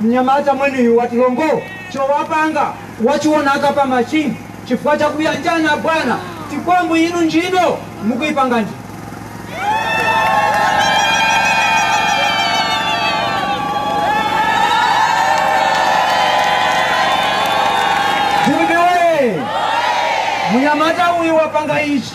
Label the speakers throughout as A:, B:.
A: Mnyamata mwenuyu wati longol chowapanga wachionaka pa machine chifukwa cha kuyanjana abwana tikwambu inu ntchito mukuipanga ndi. Jumbe woyee! Mnyamata uyu wapanga ichi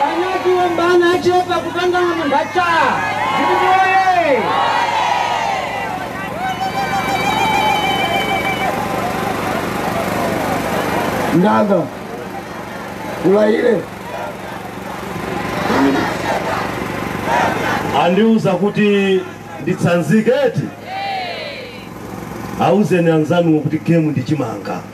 A: Panyaji wambana achepa kupangana munthu
B: achaa DPP woyee. Ndanga kulaile andiuza kuti nditsanzike eti auzeni anzanuwo kuti game ndi chimanga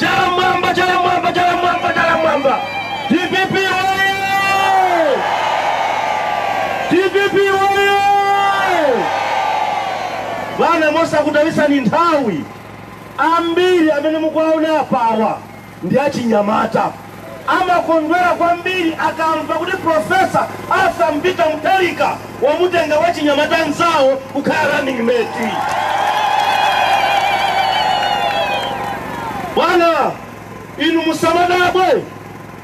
B: Chala m'mwamba, chala m'mwamba, chala m'mwamba, chala m'mwamba. DPP oye! DPP oye! Bwana mosakutayitsani nthawi ambiri amene mukuwaona apawa ndi achinyamata amakondwera kwambiri akamva kuti Professor Arthur Peter Mutharika wamutenga wachinyamata nzawo kukhala running mate. Bwana, inu musamadabwe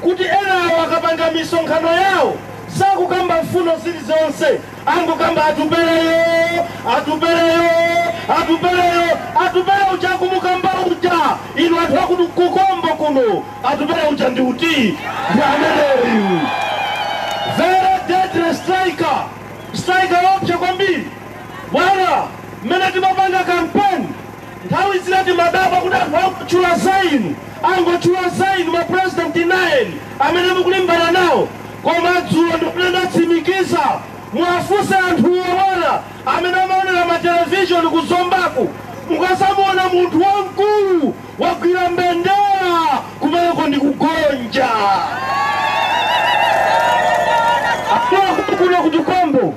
B: kuti enawo akapanga misonkhano yawo sakukamba mfundo zilizonse, angokamba Atupeleyo, Atupeleyo, Atupeleyo, Atupele uja akumukamba uja, inu anthu a ku Tukombo kuno Atupele uja ndi uti? Ndi ameneyu. Very deadly striker. Striker woopsa kwambiri. Bwana, mmene timapanga kampeni nthawi zina timadabwa kuti anthu angotchula za inu, angotchula za inu mapurezidenti 9 amene mukulimbana nawo. Koma dzulo ndimene ndatsimikiza muwafunse anthuwo bwana amene amaonera matelevishoni ku Zombaku mukazamuona munthu wamkulu wagwira mbendera kumeneko ndi kugonja akuno ku Tukombo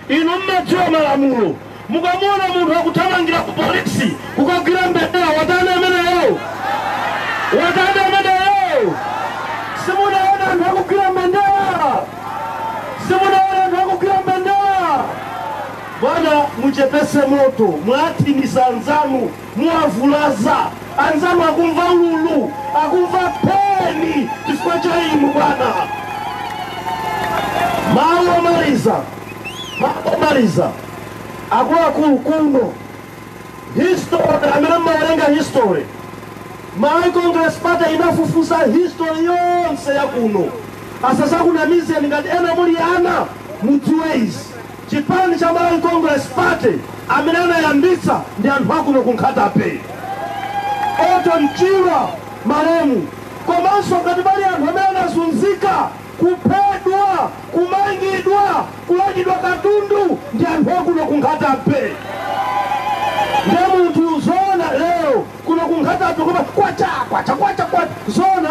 B: inu mmadziwa malamulo mukamuona munthu akuthamangira ku polisi kukagwira mbendera watani ameneyo watani ameneyo simunaona anthu akugwira mbendera simunaona anthu akugwira mbendera bwana muchepese moto mwathinisa anzanu Muwavulaza anzanu akumva ululu, akumva pain chifukwa cha inu bwana. Mawu omaliza, mawu omaliza akuluakulu kuno history amene mmawerenga history Malawi Congress Party inafufuza history yonse ya kuno asazakunamizeni ngati ena muli ana mudziwe izi Chipani cha Malawi Congress Party amene anayambitsa ndi anthu akuno ku Nkhata Bay, Orton Chirwa malemu, komanso ngati pali anthu amene anazunzika, kuphedwa, kumangidwa, kulandidwa katundu ndi anthu akuno ku Nkhata Bay. Ndiye munthu zoona lero kuno ku Nkhata Bay koma kwacha kwacha kwacha kwacha zoona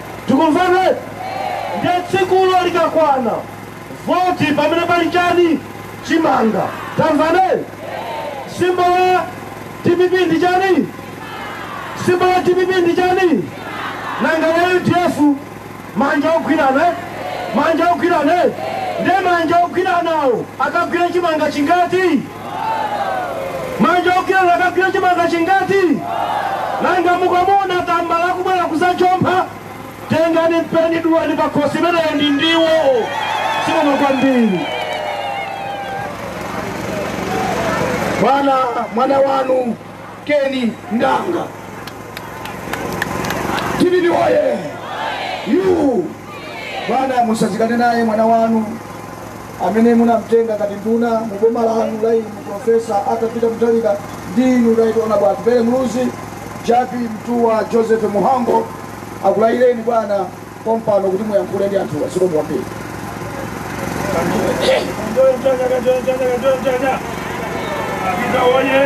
B: tikumvana ndiye tsikulo likakwana voti pamene pali chani chimanga tamvane simbo ya dpp ndi chani simbo ya dpp ndi chani nanga la udf manja ogwirana eh? manja ogwirana eh? ndiye manja ogwiranawo akagwira chimanga chingati Manja ogwirana akagwira chimanga chingati? Nanga mukamuona tambala akubwera kuzajompha, tengani mpeni dulani pakhosi, imeneyo ndi ndiwo. Zikomo kwambiri. Bwana, mwana wanu Keni Ndanga. DPP oye! Yu! Bwana, musazikane naye mwana wanu amene munamtenga ngati nduna mu boma lanu la inu Profesa Arthur Peter Mutharika ndi inu Right Honorable Atupele Muluzi, Jappie Mtuwa Joseph Mhango akulayireni bwana pompano kuti muyankhule ndi anthuwa. Zikomo
C: kwambiri. A Peter woye!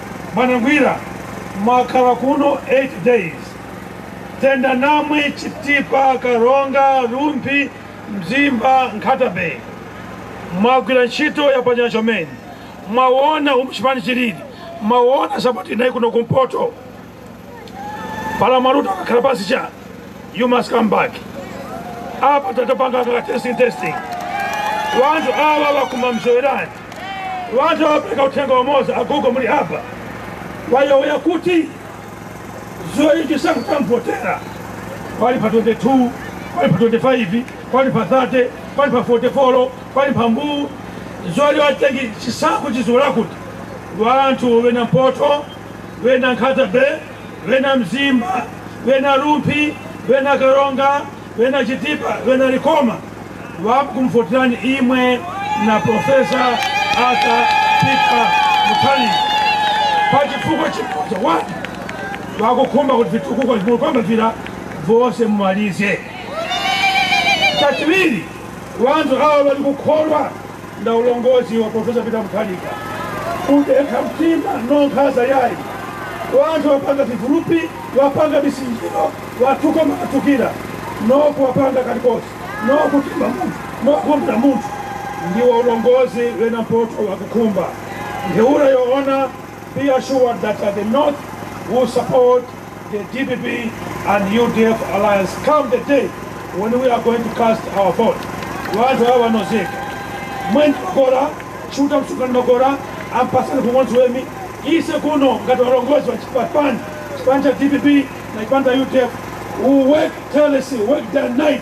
C: Bwana Ngwira mwakhala kuno 8 days tenda namwe Chitipa Karonga Rumphi Mzimba Nkhata Bay mwagwira ntchito yapachanya chomene mwawona umu chipani chilili mwawona sapoti inayi kuno kumpoto pala mwaluta akakhala pasi cha you must come back apa tatapanga kaka testing testing wanthu awa wakuma mzowerani wanthu awapereka uthenga wamoza agogo muli apa wayowoya kuti zoichi sakutamvotera wali pa 22 wali pa 25 wali pa 30 wali pa 44 wali pa mbuu zoli watengi chisankho chiziwola kuti wanthu wena mpoto bena nkhata bay bena mzimba bena rumphi bena karonga bena chitipa bena likoma vakumfotirani imwe na profesa ata pita muthalika pa chifukwa chimodzi wati vakukhumba kuti vitukuko vimulikwamba vira vonse mumalize chachiwiri wanthu awa valikukholwa na ulongozi wa Profesa Peter Mutharika kudekha mtima no nkhaza yayi wanthu wapanga vivulupi wapanga misinjiro watuka makathukira noku wapanga kalikosi no kutimba munthu nokumbira munthu ndiwo ulongozi wena mpoto wakukhumba ntheura yoona be assured that the north will support The DPP and UDF alliance come the day when we are going to cast our vote. Wanthu awa nozeka. Mwenzi makora, shuta msukani makora, ampasani kumwenzi wemi. Ise kuno ngati walongozi wa chipani, chipani cha DPP na chipani cha UDF. We work tirelessly, work day and night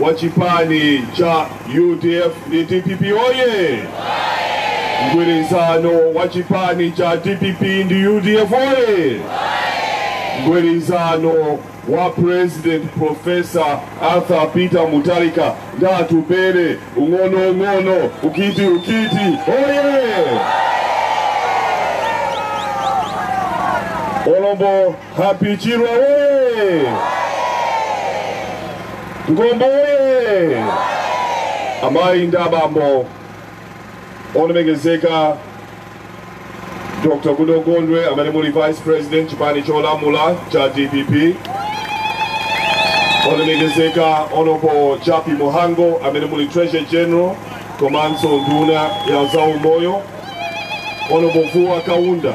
B: wa chipani cha udf ndi dpp oye mgwirizano wa chipani cha dpp ndi udf oye mgwirizano wa president profesa arthur peter mutharika ndi atupele ung'ono ung'ono ukiti ukiti oye olombo Happy Chirwa woye! Mgombo woye! Amayi ndi abambo olemekezeka Dr. Goodall Gondwe amene muli Vice President chipani cholamula cha DPP olemekezeka Honorable Jappie Mhango amene muli Treasurer General komanso nduna ya zaumoyo Honorable Vuwa Kaunda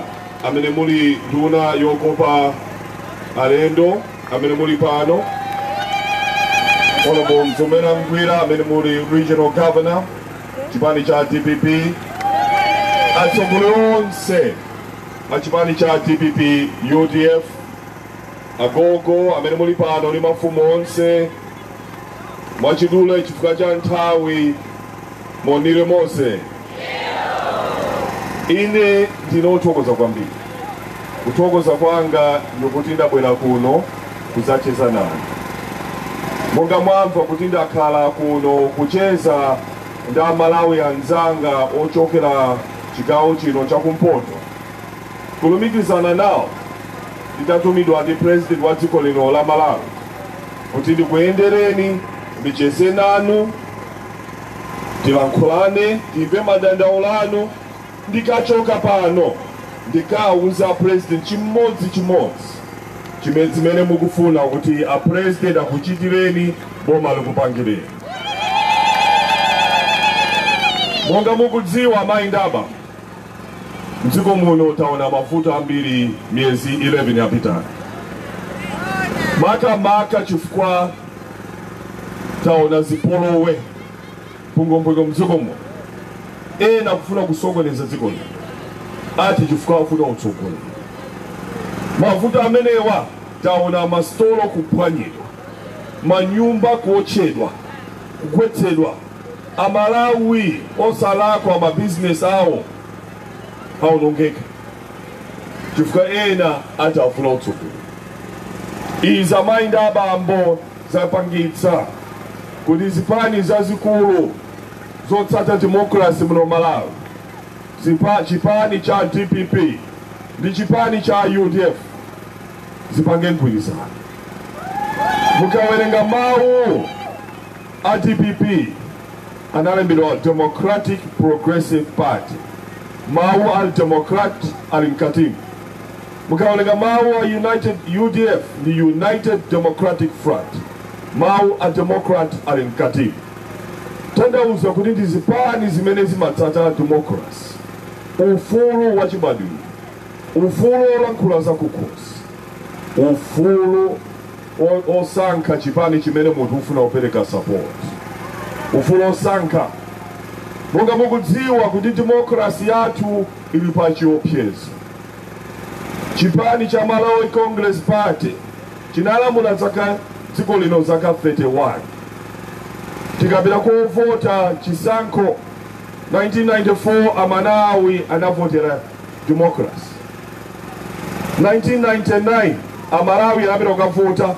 B: amene muli nduna yokopa alendo amene muli pano honorable mzomera ngwira amene muli regional governor chipani cha dpp atsogoleri onse a chipani cha dpp udf agogo amene muli pano ndi mafumu onse mwachidule chifukwa cha nthawi monire mose ine ndine wothokoza kwambiri kuthokoza kwanga ndikuti ndabwera kuno kudzacheza nanu monga mwamva kuti ndakhala kuno kucheza ndi amalawi anzanga ochokera chigawo chino chakumpoto kulumikizana nawo nditatumidwa ndi president wa dziko lino la malawi kuti ndikuyendereni ndicheze nanu tilankhulane timve madandaulo anu ndikachoka pano ndikawuza a president chimodzi chimodzi chimene zimene mukufuna kuti a president akuchitireni boma likupangireni monga mukudziwa mayi ndaba Mdziko muno taona mavuto ambiri miyezi 11 yapitayi, maka maka chifukwa taona zipolowe mpungwepungwe mdziko muno, ena kufuna kusokoneza dziko lino ati chifukwa akufuna utsogoleri. Mavuto amenewa taona masitolo kuphwanyidwa, manyumba kuotchedwa, kugwetsedwa Amalawi osalakwa ma business awo aonongeka chifukwa ena ati afuna utsogoleri. Izi amayi ndi abambo zapangitsa kuti zipani zazikulu zotsata democracy muno Malawi chipani cha DPP ndi chipani cha UDF zipange mgwirizano. Mukawerenga mawu A dpp analembedwa Democratic Progressive Party, mawu a Democrat ali mkatimu. Mukawerenga mawu a United UDF ndi United Democratic Front, mawu a Democrat ali mkatimu. Kutanthauza kuti ndi zipani zimene zimatsata democracy, ufulu wachibadwidwe, ufulu wolankhula zakukhosi, ufulu osankha chipani chimene munthu ufuna kupereka support ufulu osankha monga mukudziwa kuti demokrasi yathu ili pa chiopsezo chipani cha malawi congress party chinalamula zaka dziko lino zaka 31 tikapita kukavota chisankho 1994 amalawi anavotera democracy 1999 amalawi anapita kukavota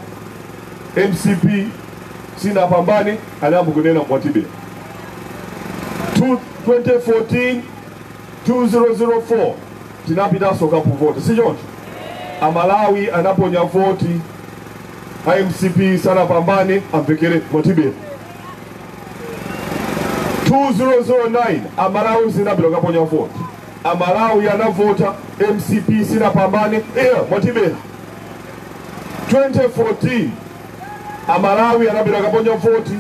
B: mcp sinapambane anayamba kunena mwatibera 2014 2004 tinapitanso kukavota si choncho amalawi anaponya voti a mcp sanapambane amvekere mwatibera 2009 amalawi anapita kukaponya voti A Malawi anavota mcp sinapambane eya mwatibera 2014 a Malawi anapita kukaponya voti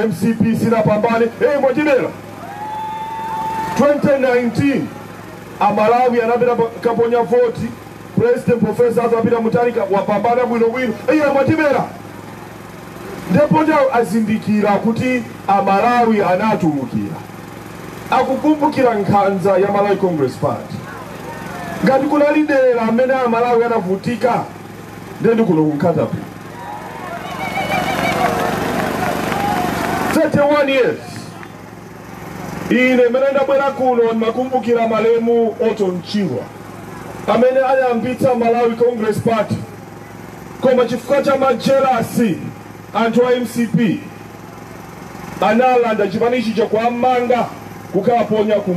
B: mcp sinapambane eya mwatibera 2019 a Malawi anapita pa- kukaponya voti president professor Arthur Peter Mutharika wapambana bwino bwino eya mwatibera Ndipo nde azindikira kuti a Malawi anatulukira. Akukumbukira nkhanza ya Malawi Congress Party. Ngati kunali dera limene a Malawi anavutika nde ndi kuno ku Nkhatabay. 31 years. Ine mene ndabwera kuno ndimakumbukira malemu Orton Chirwa amene anayambitsa Malawi Congress Party. Koma chifukwa cha ma jealous anthu a mcp analanda chipani chija kuwamanga kukawaponya ku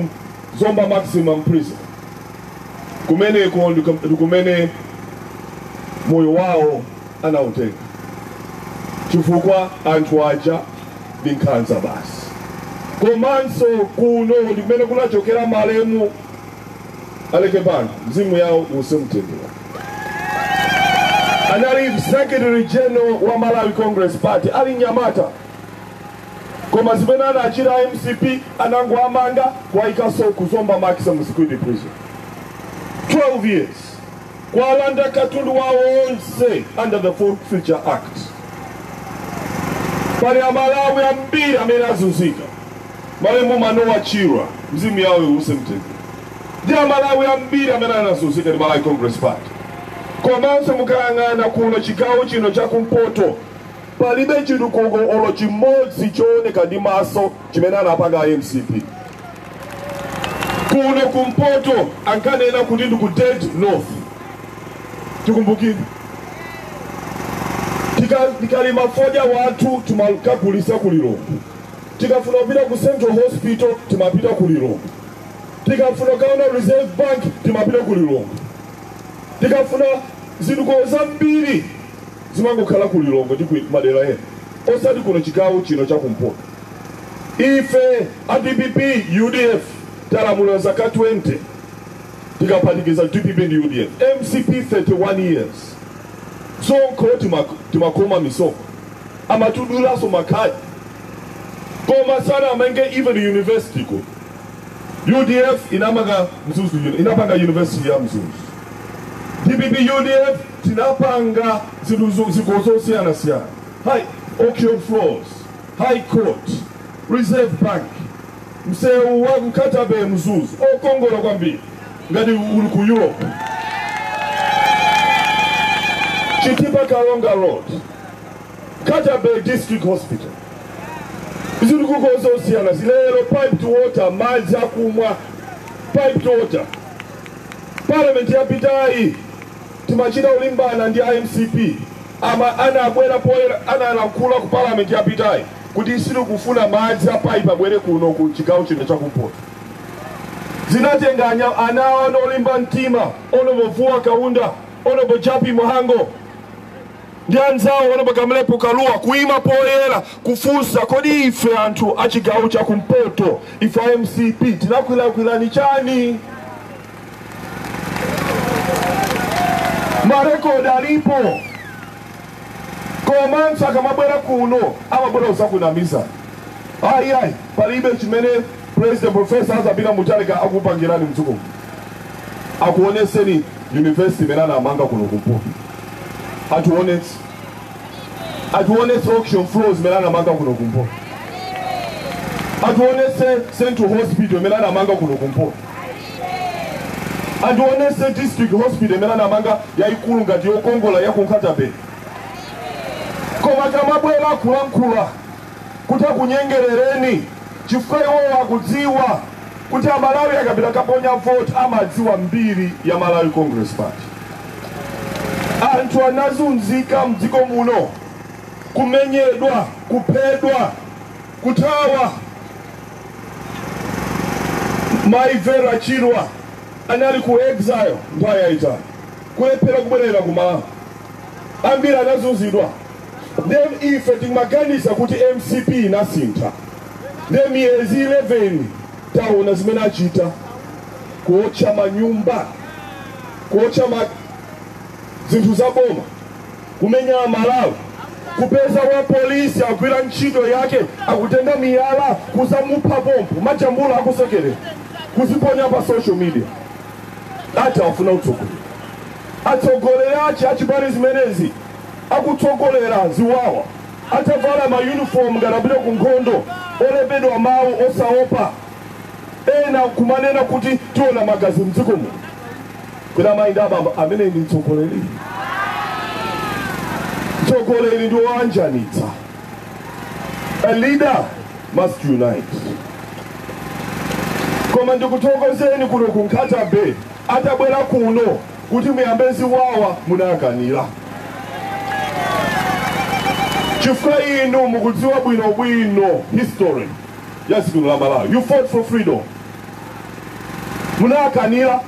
B: Zomba Maximum Prison. Kumeneko ndiku- ndikumene moyo wawo anautenga chifukwa anthu aja ndi nkhanza basi. Komanso kuno ndi kumene kunachokera malemu Aleke Banda mzimu yawo uuse mumtendere. anali secretary general wa malawi congress party ali nyamata koma zimene anachita mcp anangoamanga kuwayikanso kuzomba maximum security prison 12 years kuwalanda katundu wawo onse under the Forfeiture act pali amalawi ambiri amene azunzika Malemu Manoah Chirwa mzimu wawo uwuse mumtendere ndi amalawi ambiri amene anazunzika ndi Malawi Congress Party komanso mukayang'ana kuno chigawo chino cha kumpoto palibe chitukuko olo chimodzi chooneka ndi maso chimene anapanga a mcp kuno kumpoto ankanena kuti ndi ku dead north tikumbukire Tika- tikalima fodya wathu timakagulisa ku lilongwe Tikafuna kupita ku Central Hospital timapita ku Lilongwe. Tikafuna kaona Reserve Bank timapita ku Lilongwe. Tikafuna zitukuko zambiri zimangokhala ku Lilongwe ndi ku madera ena, osati kuno chigawo chino cha kumpoto. Ife a dpp UDF talamula zaka 20 tikaphatikiza dpp ndi UDF mcp 31 years sonkho timak- timakhoma misonkho amatudulaso makhadi koma sanaamange even university ko udf inamanga mzuzu uni- inapanga university ya mzuzu dpp udf tinapanga zinthu zo- ziko zosiyanasiyana high auction floors high court reserve bank msewu wa nkhata bay mzuzu okongola kwambiri ngati uli ku europe chitipa karonga road nkhata bay district hospital zitukuko zosiyanasiyana lero piped water madzi akumwa piped water parliament yapitayi timachita ulimbana ndi amcp ama anaabwera poyera anaalankhula ku parliament yapitayi kuti siri kufuna madzi a pipe abwere kuno ku chigawo chino chakumpoto zinatenga anya- ana olimba mtima honorable vuwa kaunda honorable jappie mhango ndi anzawo honorable kamlepo kalua kuima poyera kufunsa kodi ife anthu achigawo cha kumpoto inu a mcp tinakulakwirani chani marekodi alipo komanso akamabwera kuno amabwera uzakunamiza ayi ayi palibe chimene President professor Arthur Peter Mutharika akupangirani mdziko muno akuoneseni university imene anamanga kuno kumpoto atiwonetse atiwonetse auction floors imene anamanga kuno kumpoto atiwonetse central hospital imene anamanga kuno kumpoto atiwonetse district hospital imene anamanga yayikulu ngati yokongola ya ku Nkhata Bay koma akamabwera kulankhula kuti akunyengerereni chifukwa iwowo akudziwa kuti a Malawi akapita kaponya vote amadziwa mbiri ya Malawi Congress Party. Anthu anazunzika mdziko muno, kumenyedwa, kuphedwa, kuthawa. Mai Vera Chirwa anali ku exile nthawi yayitali, kulephera kubwerera ku Malawi. Ambiri anazunzidwa. nde ife timaganiza kuti mcp inasintha nde miyezi 11 taona zimene achita kuotcha manyumba kuotcha ma zinthu za boma kumenya amalawi kupeza wa polisi agwira ntchito yake akutenga miyala kuzamupha pompo amajambula akusekerera kuziponya pa social media ati afuna utsogoleri atsogoleri achi achipani zimenezi akutsogolera ziwawa atavala ma uniform ngati apita ku nkhondo olembedwa mawu osaopa ena kumanena kuti tiona magazi mdziko muno kwina mayi ndi abambo ameneyo ndi mtsogoleri mtsogoleri ndi woyanjanitsa a leader must unite koma ndikuthokozeni kuno ku nkhata bay atabwera kuno kuti muyambe ziwawa munakanira chifukwa inu mukudziwa bwino bwino history ya dziko la malawi you fought for freedom munakanira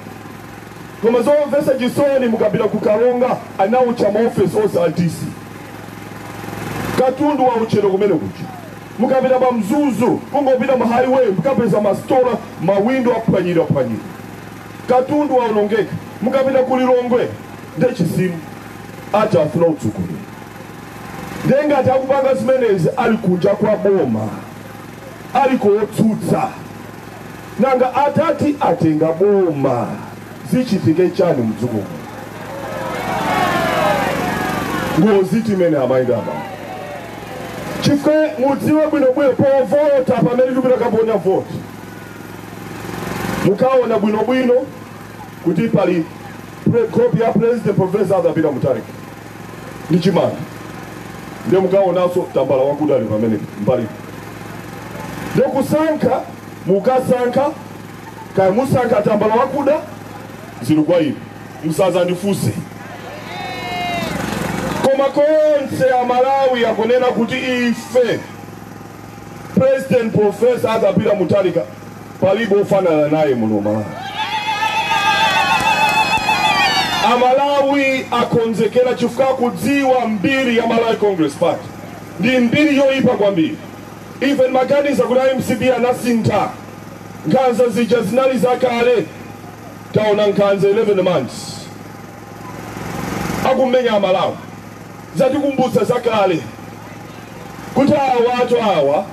B: koma zomvetsa chisoni mukapita ku karonga anaotcha maofesi onse a dc katundu waotchedwa kumene kuja mukapita pa mzuzu kungopita mu highway mukapeza masitolo mawindo aphwanyidwa phwanyidwa Katundu waonongeka mukapita ku Lilongwe nde chisimo ati afuna utsogoleri nde ngati akupanga zimenezi ali kunja kwa boma ali kotsutsa nanga atati atenga boma zichitike chani mdziko muno? ngozitu imeneyi amayi ndi abambo chifukwa mudziwe bwinobwino povota pamene tikupita kaponya voti mukaona bwinobwino kuti pali copy ya president profesa Arthur Peter Mutharika ndi chimanga nde mukaonanso tambala wakuda ali pambali nde kusankha mukasankha kaya musankha tambala wakuda zili kwa inu musazandifunse koma konse amalawi akunena kuti ife President Professor Arthur Peter Mutharika palibe ofanana naye muno Malawi. Amalawi akonzekera chifukwa akudziwa mbiri ya Malawi Congress Party ndi mbiri yoyipa kwambiri. Ife timaganiza kuti a MCP anasintha nkhanza zija zinali zakale taona nkhanza 11 months akumenya Amalawi. zatikumbutsa zakale kuti awatu awa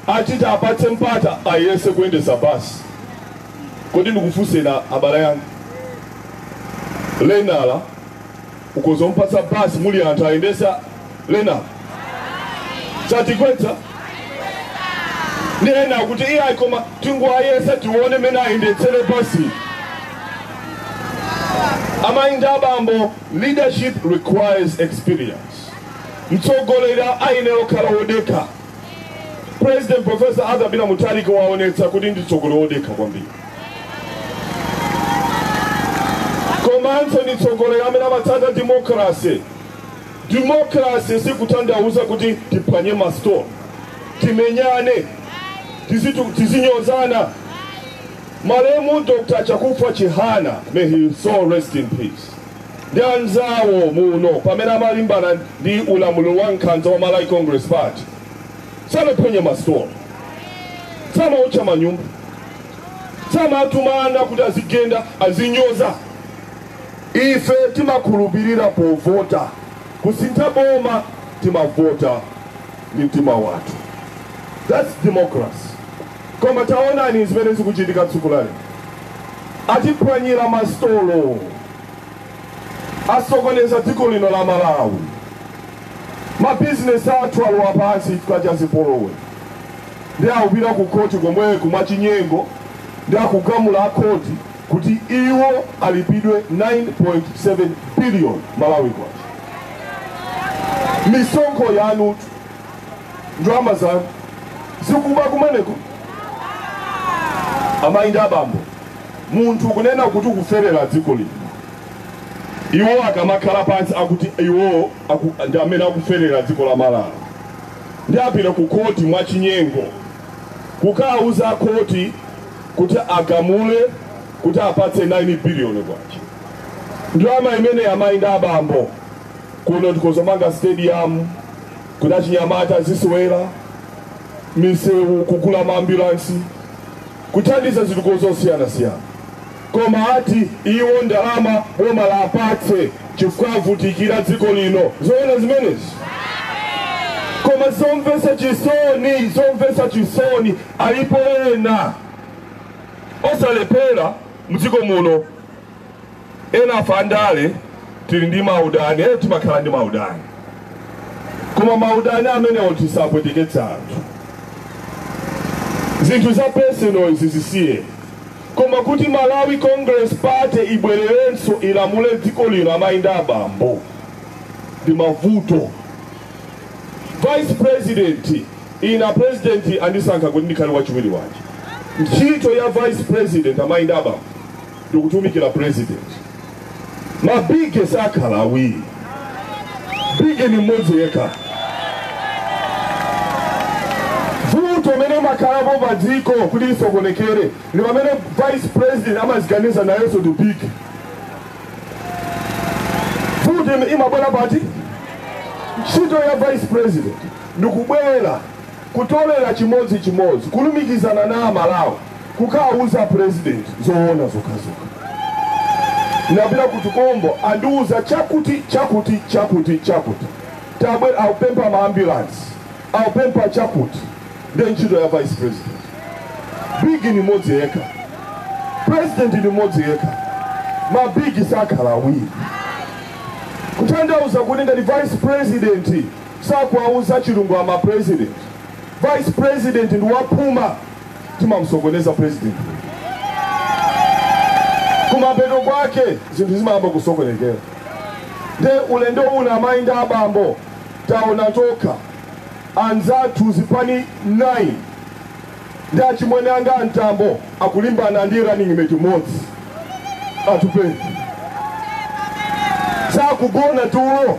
B: ati tiwapatse mpata ayese kuyendesa basi kodi ndikufunseni abale anga lenala ukhoza umpatsa basi muli anthu ayendesa lenala satigwetsa nde ena akuti iyayi koma tingowayesa tione mene ayendetsere basi amayi ndi abambo Leadership requires experience. Mtsogoleri ayenera kukhala wodekha. President Professor Arthur Peter Mutharika waonetsa kuti ndi mtsogoleri wodekha kwambiri. Komanso ndi mtsogoleri amene amatsata democracy. Democracy sikutanthauza kuti tiphwanye masitoro, timenyane, tizinyozana. Malemu Dr. Chakufwa Chihana, may his soul rest in peace. ndi anzawo muno pamene amalimbana ndi ulamuliro wa nkhanza wa Malawi Congress Party sanaphwanye masitoro samaotcha manyumba samatumana kuti adzigenda adzinyoza ife timakhulupirira povota kusintha boma timavota ndi mtima wathu that's democracy Koma taonani zimene zikuchitika tsiku la lero. Atiphwanyira masitolo, asokoneza dziko lino la Malawi. Mabizinesi athu alowa pansi chifukwa cha zipolowe, nde akupita ku khoti komweku mwachinyengo, nde akugamula a khoti kuti iwo alipidwe 9.7 biliyoni Malawi kwacha. Misonkho yanutu ndalama zanu zikuba kumeneko amayi ndi abambo munthu kunena kuti ukuferera dziko lino iwo akamakhala pansi akuti iwo ndi amene akuferera dziko la malawi nde apite ku khoti mwa chinyengo kukauza khoti kuti agamule kuti awapatse 9 biliyoni kwacha ndalama imene amayi ndi abambo kuno tikozomanga stadium kuti achinyamata azisewera misewu kugula maambulansi kuthandiza zitukuko zosiyanasiyana koma ati iwo ndalama boma liwapatse chifukwa avutikira dziko lino zoona zimenezi koma zomvetsa chisoni zomvetsa chisoni alipo ena osalemphera mdziko muno Enafe andale tili ndi maudani ee, timakhala ndi maudani, koma maudani amenewo tisapweteketse anthu. Zinthu za personal izi zisiye, koma kuti Malawi Congress Party ibwererenso ilamule dziko lino, amayi ndi abambo, ndi mavuto. Vice President ine president andisankha kuti ndikhale wachiwiri wache. Ntchito ya Vice President amayi ndi abambo ndikutumikira president mabige sakhala awiri bige ni mmodzi yekha vuto imene imakhalapo pa dziko kuti lisokonekere ndi pamene vice president amaziganiza nayenso ndi big vuto imabwera pati ntchito ya vice president ndikubwera Kutolera chimodzi chimodzi kulumikizana na amalawi kukauza president zoona zokhazokha. Ndapita ku Tukombo andiuza chakuti chakuti chakuti chakuti tabwera akupempha ma ambulance akupempha chakuti nde ntchito ya vice president. Big ni modzi yekha president ni modzi yekha ma big sakhala awiri. Kutanthauza kuti ngati vice president. sakuwauza chilungamo a president vice president ndi waphuma ndi mamusokoneza president kumapeto kwake zinthu zimayamba kusokonekera nde ulendo uno amayi ndi abambo taona tokha anzathu zipani 9 ndi achimwene anga a Mtambo akulimbana ndi running mate modzi Atupele sakugona tulo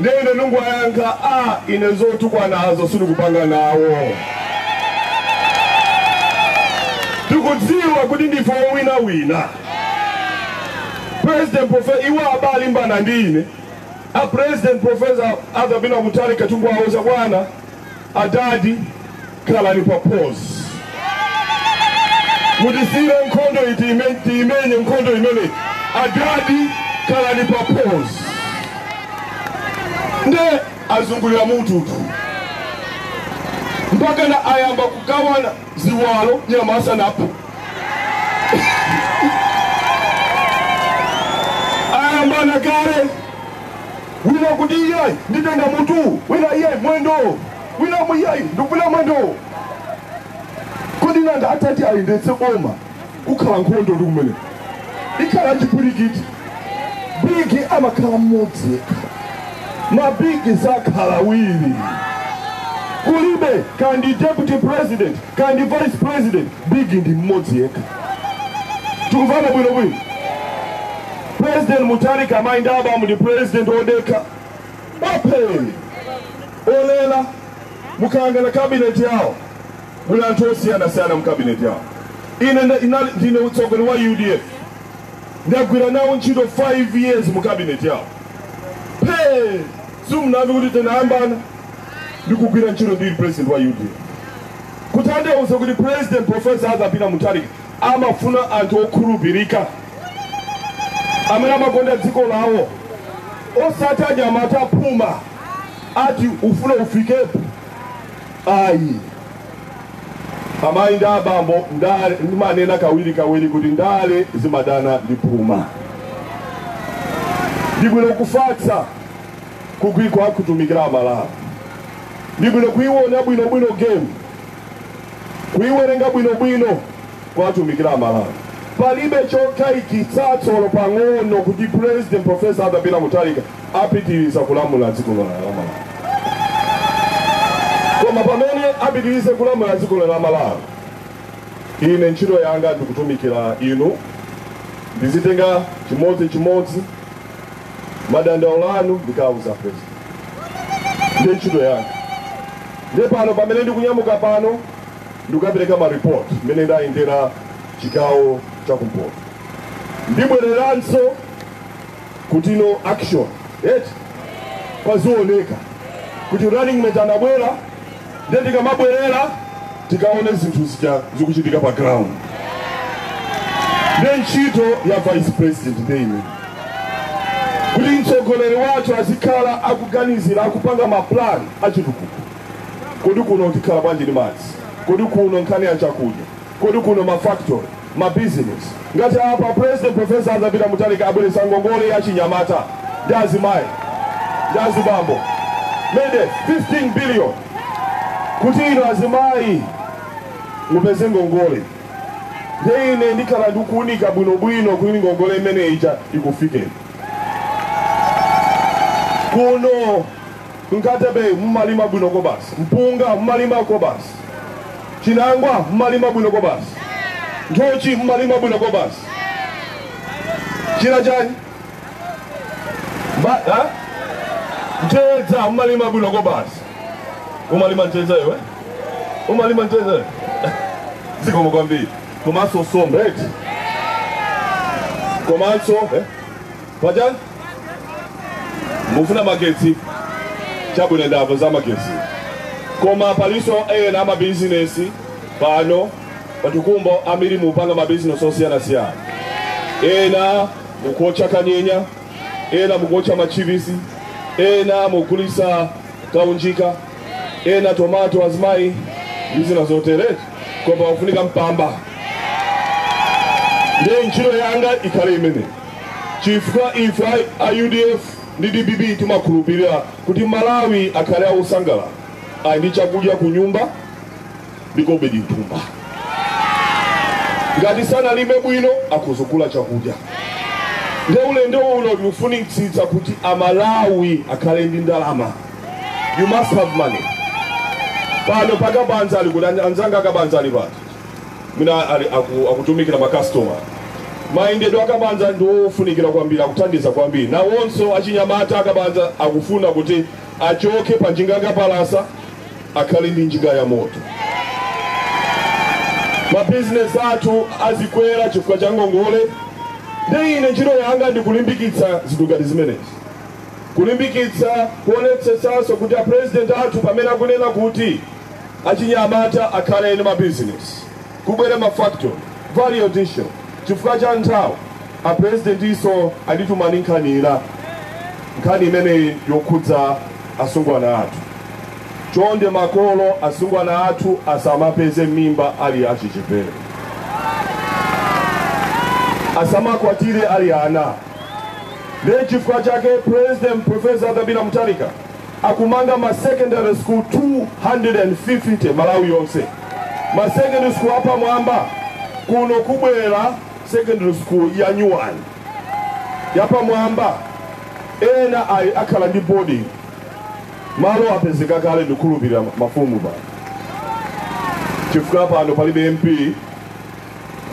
B: Ndiye ine ndingowayankha, Ah, ine zotukwanazo sindikupanga nawo. Tikudziwa kuti ndife owinawina. President Profe, iwo akulimbana ndi ine. A President Professor Arthur Peter Mutharika tikuwauza bwana Adadi khalani pa pause mutisiyire nkhondo iyi tiime- tiimenye nkhondo imeneyi adadi khalani pa pause nde azungulira mututu mpaka na ayamba kugawana ziwalo nyama asanaphe, ayambana kale Wina akuti iyayi nditenga mutuwu, wina iyayi mwendowo, wina amvekere iyayi ndikufuna mwendowo. Kodi nanga atati ayendetse boma kukhala nkhondo ndi kumene ikhala chipwirikiti? Bigi amakhala mmodzi yekha, mabigi sakhala awiri. Kulibe kaya ndi deputy president kaya ndi vice president, bigi ndi mmodzi yekha. Tikumvana bwino bwino. President Mutharika amayi ndi abambo ndi president odekha bapheni ololera mukayang'ana kabineti yawo muli anthu osiyanasiyana mu kabineti yawo ine nda- inali- ndine mtsogoleri wa udf ndagwira nawo ntchito 5 years mu kabineti yawo phe simunamve kuti tinayambana ndikugwira ntchito ndili president wa udf kutanthauza kuti president profesa arthur peter mutharika amafuna anthu okhulupirika amene amakonda dziko lawo osati anyamata aphuma ati ufumu ufikepo ayi amayi ndi abambo ndale ndimanena kawiri kawiri kuti ndale zimadana ndi phuma ndibwino kufatsa kugwira kutumikira amalawi ndibwino kuiwona bwinobwino game kuiwerenga bwinobwino kuwatumikira a Malawi. Palibe chokayikitsatso olo pang'ono kuti President Prof. Arthur Peter Mutharika apitiriza kulamula dziko lino la Malawi. Koma pamene apitirize kulamula dziko lino la Malawi, ine ntchito yanga ndikutumikira inu, ndizitenga chimodzi chimodzi madandaulo anu ndikawauze President. Ndiye ntchito yanga. Ndiye pano pamene ndikunyamuka pano ndikukapereka ma report mmene ndayendera chigawo cha kumpoto ndibwereranso kuti tione action ee pazioneka kuti running mate anabwera nde tikamabwerera tikaone zinthu zija zikuchitika pa ground nde ntchito ya vice president nde imene kuti mtsogoleri wathu azikhala akuganizira akupanga maplan achitukuko Kodi kuno tikhala bwanji ndi madzi? Kodi kuno nkhani ya chakudya? Kodi kuno ma factory? Ma business? Ngati apa president professor Arthur Peter Mutharika abweretsa ngongole ya achinyamata ndi azimayi ndi azibambo mende 15 billion kuti inu azimayi mupeze ngongole nde ine ndikhala ndikuunika bwinobwino kuti ngongole imene ija ikufikeni kuno Nkhatabay mumalima bwino kwabasi, mpunga mumalima kwabasi, chinangwa mumalima bwino kwabasi, nthochi mumalima bwino kwabasi, china chani Mba, ha? mtedza mumalima bwino kwabasi. Umalima mtedza iwe? Umalima mtedza iwe? zikomo kwambiri komanso nsomba eti komanso eh? Pachani? Mufuna magetsi? Chabwino ndamva za magetsi. Koma palinso ena amabizinesi pano pa Tukombo ambiri mupanga mabizinesi osiyanasiyana. Ena mukuotcha kanyenya, ena mukuotcha machipisi, ena mugulisa kaunjika, ena tomato azimayi ndi zina zotere koma ofunika mpamba. Ndiye ntchito yanga ikhale imene. chifukwa ife a udf ndi dpp timakhulupilira kuti malawi akhale akusangalala ali ndi chakudya ku nyumba ndi kobidi mthumba ngati sanalime bwino akuzigula chakudya nde ulendo uno tikufunitsitsa kuti amalawi akhale ndi ndalama you must have money pano akabaza ali kuti anzanga akabaza ali pati mwina ali aku, akutumikira makastoma mayendedwe akabaza ndi ofunikira kwambiri akuthandiza kwambiri nawonso achinyamata akabaza akufuna kuti achoke pa njinga yakapalasa akhale ndi njinga ya moto mabizinesi athu azikwera chifukwa cha ngongole nde ine ntchito yanga ndikulimbikitsa zinthu ngati zimenezi kulimbikitsa kuonetsetsanso kuti apurezidenti athu pamene akunena kuti Achinyamata akhale ndi ma business, kubwere ma factory, value addition, chifukwa cha nthawi a Presidentinso anditumani nkhani ina, nkhani imene yokhudza asungwana athu. Chonde makolo, asungwana athu asamapeze mimba ali achichepere, asamakwatire ali ana. Ndiye chifukwa chake President Prof. Arthur Peter Mutharika Akumanga ma secondary school 250 Malawi yonse. Ma secondary school apamwamba. Kuno kubwera secondary school yanyuwani yapamwamba. Enawa akhala ndi boarding. Malo apezeka kale ndikukhulupirira mafumu pano. Chifukwa pano palibe MP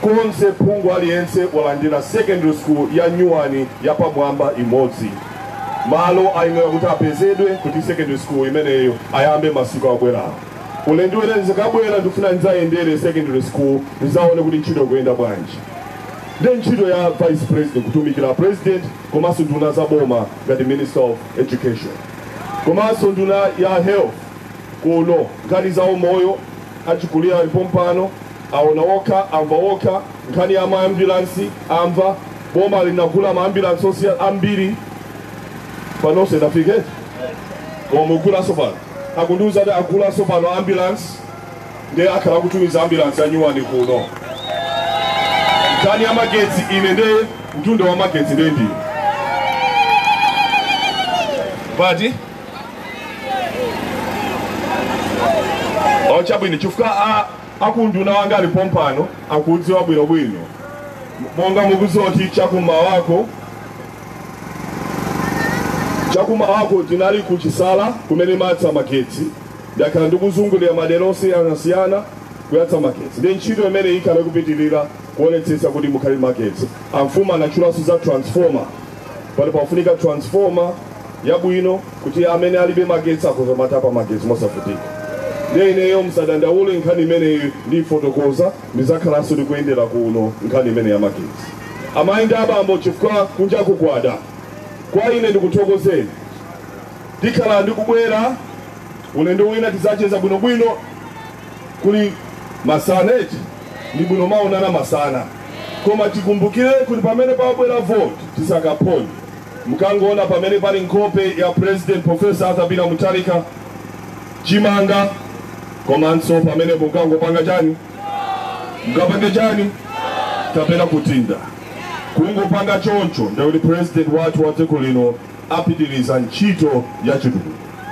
B: konse phungu aliyense walandira secondary school ya nyuwani yapamwamba imodzi malo ayenera kuti apezedwe kuti secondary school imeneyo ayambe masiku akubwerawo ulendo wina ndikazabwera ndikufuna ndidzayendere secondary school ndizaone kuti ntchito ikuyenda bwanji nde ntchito ya vice president kutumikira president komanso nduna za boma ngati minister of education komanso nduna ya health kuno nkhani za umoyo achikulira ali pompano Aona okha, amva okha, nkhani ya ma ambulance amva, boma linagula ma ambulance ochuluka ambiri pano sanafike koma agulanso posachedwapa akundiuza kuti agulanso pano ambulance ndiye akhala akutumiza ambulance ya nyuwani kuno nkhani ya magetsi ine nde nduna ya magetsi nde ndine pati ochabwino chifukwa a Akunduna wanga ali pompano akuudziwa bwinobwino. Monga mukudziwa kuti chakumawako chakumawako tinali kuchisala kumene timayatsa magetsi ndakhala ndikuzungulira madera osiyanasiyana kuyatsa magetsi ndi ntchito imene ikhale kupitirira kuonetsetsa kuti mukhale magetsi amfumu anatchulanso za transformer pano pafunika transformer yabwino kuti amene alibe magetsi akhoza kumatapa magetsi mosavutikira ndiye ineyo msadandaule nkhani imeneyi ndifotokoza ndizakhalanso ndikuyendera kuno nkhani imene ya magetsi amayi ndi abambo chifukwa kunja kukuda kwa ine ndikuthokozeni tikhala ndikubwera ulendo wina tizacheza bwinobwino kuli masana eti ndi bwino maonana masana koma
D: tikumbukire kuti pamene pabwera voti tisakaphonye Mukangoona pamene pali nkhope ya President Professor Arthur Peter Mutharika, chimanga komanso pamenepo mukangopanga chani, mukapange chani kapena kutinda kungopanga choncho, ndikuti president wathu wa dziko lino apitiriza ntchito ya chitukuko.